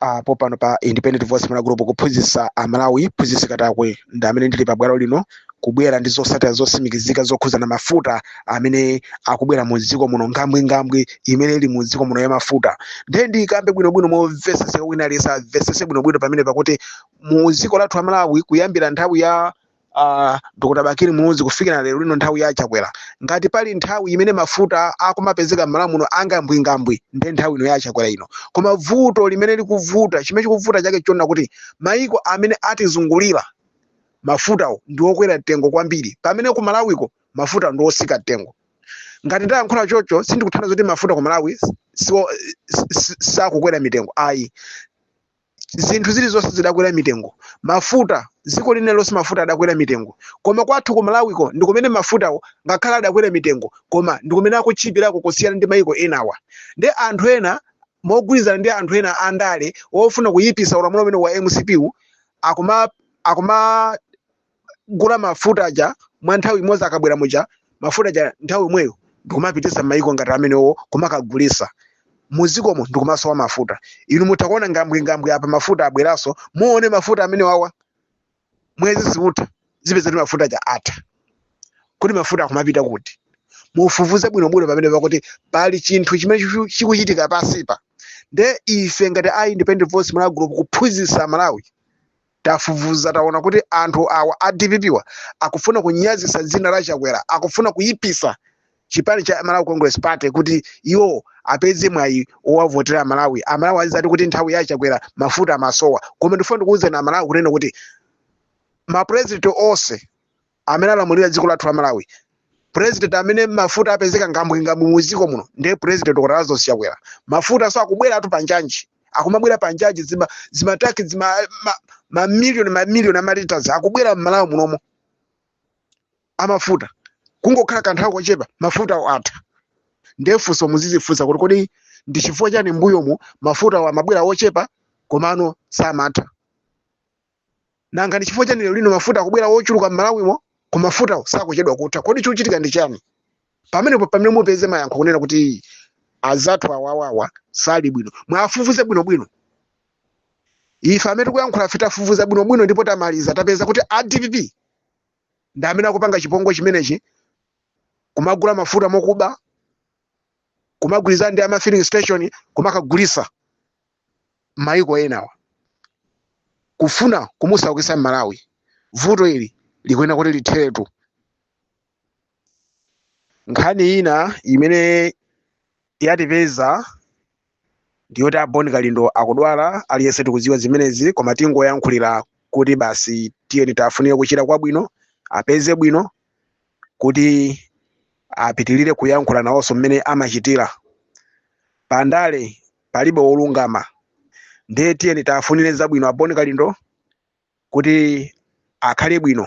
uh, popano pa independent voice malawi group kuphunzitsa amalawi mphunzitsi katakwe ndi amene ndili pa bwalo lino kubwera ndi zotsatira zotsimikizika zokhuzana mafuta amene akubwera mu dziko muno ngambwingambwi imene ili mu dziko muno ya mafuta ndiye ndikambe bwinobwino momvetsetseka wina aliyense amvetsetse bwinobwino pamene pakuti mu dziko lathu amalawi kuyambira nthawi ya uh, dr bakili muluzi kufikira lero lino nthawi ya chakwera ngati pali nthawi imene mafuta akumapezeka m'malawi muno angambwingambwi ndi nthawi ino ya chakwera ino koma vuto limene likuvuta chimene chikuvuta nchakuona kuti maiko amene atizungulira mafutawo ndi okwera mtengo kwambiri pamene ku malawiko mafuta ndi otsika mtengo ngati ndayankhula chocho sindikutanthauza kuti mafuta ku malawi siwo- si- si- sakukwera mitengo ayi zinthu zilizonse zidakwera mitengo mafuta dziko lina lililonse mafuta adakwera mitengo koma kwathu ku malawiko ndi kumene mafutawo ngakhale adakwera mitengo koma ndi kumene akutchipirako kusiyana ndi mayiko enawa nde anthu ena mogwirizana ndi anthu ena andale ofuna kuyipisa ulamulo umene wa mcp wu akuma akuma kumagula mafuta aja mwa nthawi imodzi akabwera muja mafuta aja nthawi imweyo ndikumapititsa m'mayiko ngati amenewo kumakagulisa muzikomo ndikumasowetsa mafuta inu mutha kuona ngambwingambwi apa mafuta abweranso muone mafuta amenewawa mwezi siutha mupeza kuti mafuta aja atha kuti mafuta akumapita kuti mufufuze bwinobwino pamene pakuti pali chinthu chimene chiku- chikuchitika pansipa nde ife ngati a independent voice malawi group kuphunzitsa malawi Tafufuza taona kuti anthu awa a dpp wa akufuna kunyazitsa dzina la Chakwera, akufuna kuyipisa chipani cha Malawi Congress Party kuti iwo apeze mwayi owavotera Malawi. Amalawi azidzati kuti nthawi ya Chakwera mafuta amasowa. Koma ndifuna ndikuwuzeni Amalawi kunena kuti ma president onse amene alamulira dziko lathu la malawi president amene mafuta apezeka ngambwingambwi mu dziko muno ndiye president dr lazarus chakwera mafutanso akubwera awo panjanji akumabwera panjanji zima zimatanki zima ma, ma million ma million amalitas akubwera mmalawi munomo amafuta kungokhala kanthawi kochepa mafutawo atha ndiye funso muzidzifunsa kuti kodi ndi chifukwa chani mbuyomu mafutawo amabwera ochepa komano samatha nanga ndi chifukwa chani lero lino mafuta akubwera ochuluka m'malawimo koma mafutawo sakuchedwa kutha kodi chikuchitika ndi chani pamenepo pamene mupeze mayankho kunena kuti azathu awawawa sali bwino muwafufuze bwinobwino ife amene tikuyankhula fe tafufuza bwinobwino ndipo tamaliza tapeza kuti a dpp ndi amene akupanga chipongwe chimenechi kumagula mafuta mokuba kumagwirizana ndi ama filling station kumakagulitsa maiko ena kufuna kumusaukisa mmalawi vuto ili likuyenera kuti litheretu nkhani ina imene yatipeza ndiyoti a Bon Kalindo akudwala aliyense tikudziwa zimenezi koma tingoyankhulira kuti basi tiyeni tafunire kuchira kwabwino apeze bwino kuti apitirire kuyankhula nawonso mmene amachitira pandale palibe wolungama ndiye tiyeni tafunire zabwino a Bon Kalindo kuti akhale bwino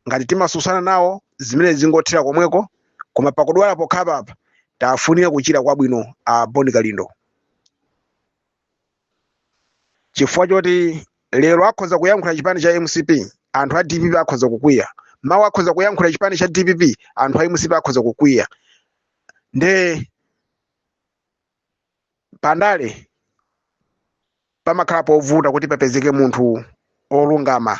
ngati timatsutsana nawo zimene zingothera komweko koma pakudwala pokhapapa tafunire kuchira kwabwino a Bon Kalindo chifukwa choti lero akhoza kuyankhula chipani cha mcp anthu a dpp akhoza kukwiya mawa akhoza kuyankhula chipani cha dpp anthu a mcp akhoza kukwiya nde pandale pamakhala povuta kuti papezeke munthu olungama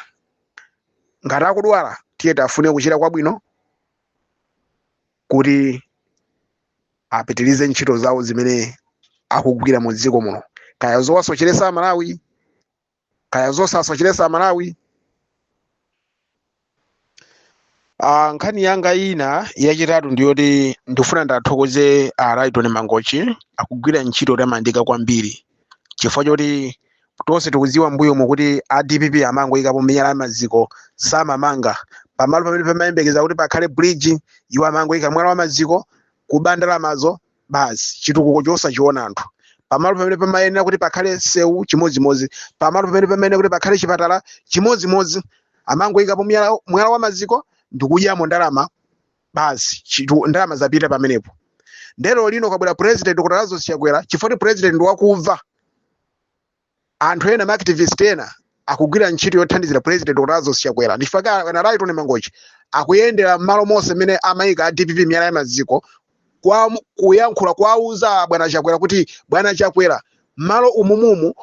ngati akudwala tiye tafunire kuchira kwabwino kuti apitirize ntchito zawo zimene akugwira mu dziko muno kaya zowasocheresa amalawi kaya zosasocheresa amalawi Ah, nkhani yanga ina yachitatu ndiyoti ndifuna ndathokoze a Lyton Mangochi akugwira ntchito yotamandika kwambiri chifukwa choti tonse tikudziwa mbuyomu kuti a DPP amangoyikapo miyala ya maziko samamanga pamalo pamene pamayembekeza kuti pakhale bridge iwo amangoyika mwala wa maziko kuba ndalamazo basi chitukuko chosachiona anthu pamalo pamene pamayenera kuti pakhale msewu chimodzimodzi pamalo pamene pamayenera kuti pakhale chipatala chimodzimodzi amangoyikapo mwala mwala wa maziko ndikudyamo ndalama basi chitu- ndalama zapita pamenepo nde lero lino kwabwera president Dr Lazarus Chakwera chifukwa choti president ndi wakumva anthu ena maactivist ena akugwira ntchito yothandizira president dr lazarus chakwera ndichifukwa chake a Lyton Mangochi akuyendera mmalo monse mmene amayika a dpp miyala ya maziko kukayankhula kuwauza bwana chakwera kuti bwana chakwera mmalo umumumu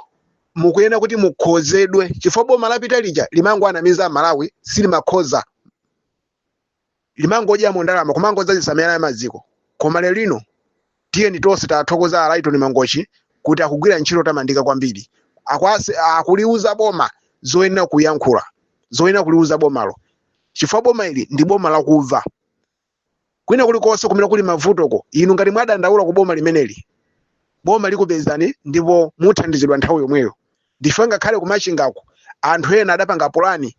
mukuyenera kuti mukonzedwe chifukwa boma lapita lija limangowanamiza amalawi silimakonza limangodyamo ndalama kumangodzazisa miyala ya maziko koma lero lino tiyeni tonse tathokoze a Lyton Mangochi kuti akugwira ntchito yotamandika kwambiri Akwase- akuliuza boma zoyenera kuyankhula zoyenera kuliuza bomalo chifukwa boma ili ndi boma lakumva kwina kulikonse kumene kuli mavutoko inu ngati mwadandaula ku boma limeneli boma likupezani ndipo muthandizidwa nthawi yomweyo ndipo ngakhale ku Machingaku anthu ena adapanga pulani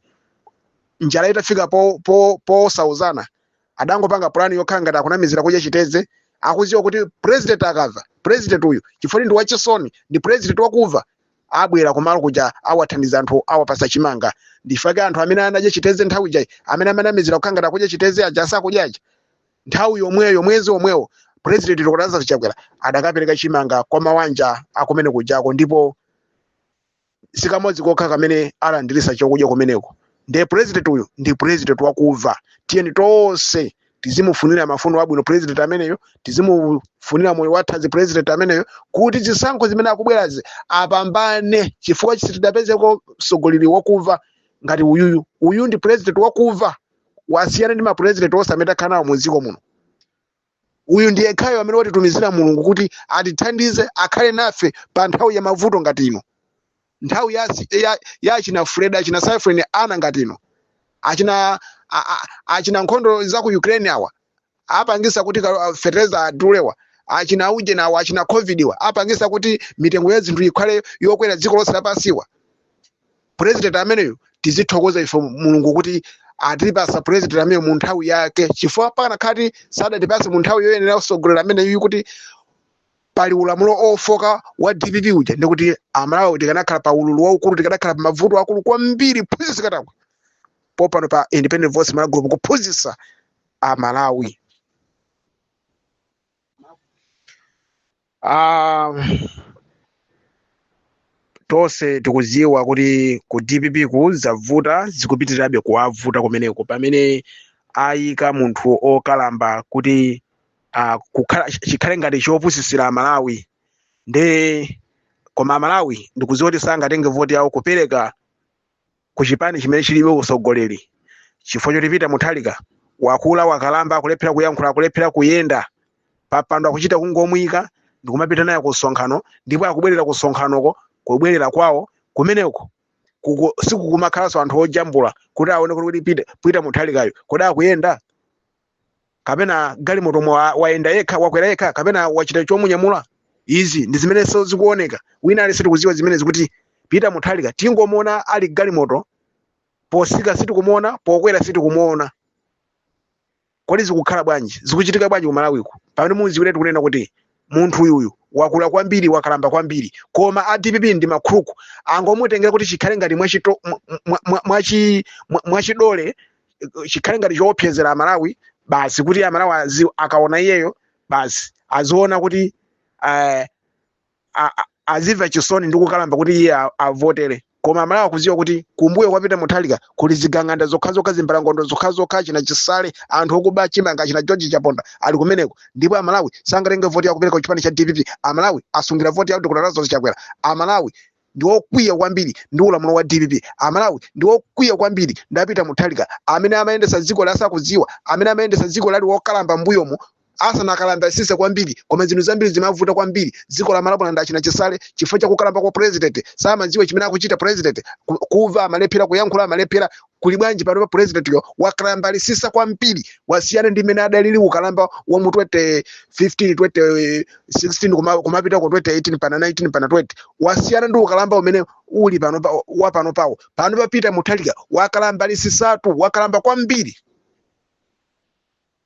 njala itafika po- po- posauzana adangopanga pulani yokhala ngati akunamizira kudya chitedze akudziwa kuti president akamva president uyu chifukwa ndi wachisoni ndi president wakumva abwera kumalo kuja awathandiza anthu awapasa chimanga nchifukwa chake anthu amene anadya chitedze nthawi ija ndi amene amanamizira kukhala ngati akudya chitedze aja asakudyaja nthawi yomweyo mwezi omwewo president dr lazarus chakwera adakapereka chimanga kwa mawanja akumene kujako ndipo sikamodzi kokha kamene alandirisa chokudya kumeneko ndiye president uyu ndi president wakumva tiyeni tonse tizimufunira mafuno abwino president ameneyo tizimufunira moyo wathanzi president ameneyo kuti zisankho zimene zikubwerazi apambane chifukwa sitidapezeko mtsogoleri wakumva ngati uyuyu uyu ndi president wakuva wasiyana ndi mapurezidenti onse amene takhala nawo mu dziko muno uyu ndi yekhayo amene watitumizira mulungu kuti atithandize akhale nafe pa nthawi ya mavuto ngati ino nthawi ya, si- ya, ya achina Freddy achina cyclone Ana ngati ino achina a, a, achina nkhondo za ku ukraine awa apangisa kuti kalo- ah, fertilizer adulewa achina uje nawo achina covidwa apangisa kuti mitengo ya zinthu ikhale yokwera dziko lonse lapansiwa president ameneyo tizithokoza ife mulungu kuti atipasa president ameneyo mu nthawi yake chifukwa pakanakhala kuti sadatipase mu nthawi yoyenera mtsogoleri ameneyu kuti pali ulamulo ofoka wa dpp uja ndikuti amalawi tikanakhala pa ululu waukulu tikanakhala pa mavuto akulu kwambiri mphunzitsi katakwe popano pa independent voice malawi group kuphunzitsa amalawi Ah, tonse tikudziwa kuti ku dpp-ku zavuta zikupitirirabe kuwavuta kumeneko pamene ayika munthu okalamba kuti ah, kukhala chikhale ngati chopusitsira amalawi ndiye koma amalawi ndikudziwa kuti sangatenge voti yawo kupereka ku chipani chimene chilibe utsogoleri chifukwa choti peter mutharika wakula wakalamba akulephera kuyankhula akulephera kuyenda papando akuchita kungomuyika ndikumapita naye ku msonkhano ndipo akubwerera ku msonkhanoko kubwerera kwawo kumeneko kuku- sikukumakhalanso anthu ojambula kuti aone kuti kodi peter peter mutharikayo kodi akuyenda kapena mgalimotomo wa- wayenda yekha wakwera yekha kapena wachita chomunyamula izi ndi zimenenso zikuoneka wina aliyense tikudziwa zimenezi kuti peter mutharika tikungomuona ali mgalimoto potsika sitikumuona pokwera sitikumuona kodi zikukhala bwanji zikuchitika bwanji ku malawiku pamene mudziwiretu kunena kuti munthu uyuyu wakula kwambiri wakalamba kwambiri koma a dpp ndi makhruku angomutengera kuti chikhale ngati mwachito- mwa- mwa- mwa- mwachi- mwa- mwachidole eh, chikhale ngati choopsezera amalawi basi kuti amalawi azi- akaona iyeyo basi aziona kuti eh, a- a- azimva chisoni ndi kukalamba kuti iye a- avotere koma amalawi akuziwa kuti kumbuyo kwa peter muthalika kuli zigawenga zokhazokha zimbalangondo zokhazokha china chisale anthu okuba chimanga china george chaponda ali kumeneko ndipo amalawi sangatenge voti ndi kupereka kuchipani cha dpp amalawi asungira voti ya dr lazarus chakwera amalawi ndi okwiya kwambiri ndi ulamulo wa dpp amalawi ndi okwiya kwambiri ndi apita muthalika amene amayendesa dziko asakudziwa amene amayendesa dziko ali wokalamba m'mbuyomo asanakalambitsitse kwambiri koma zinthu zambiri zimavuta kwambiri dziko la Malawi ndi achina Chisale chifukwa cha kukalamba kwa president samadziwa chimene akuchita president ku- kumva amalephera kuyankhula amalephera kuli bwanji pano pa president yo wakalambitsitsa kwambiri wasiyana ndi mmene adalili ukalamba wa mu 2015 2016 kuma- kumapita ku 2018 mpaka 19 mpaka 20 wasiyana ndi ukalamba umene uli pano pa- wa panopawu panopa apita muthalika wakalambitsitsatu wakalamba kwambiri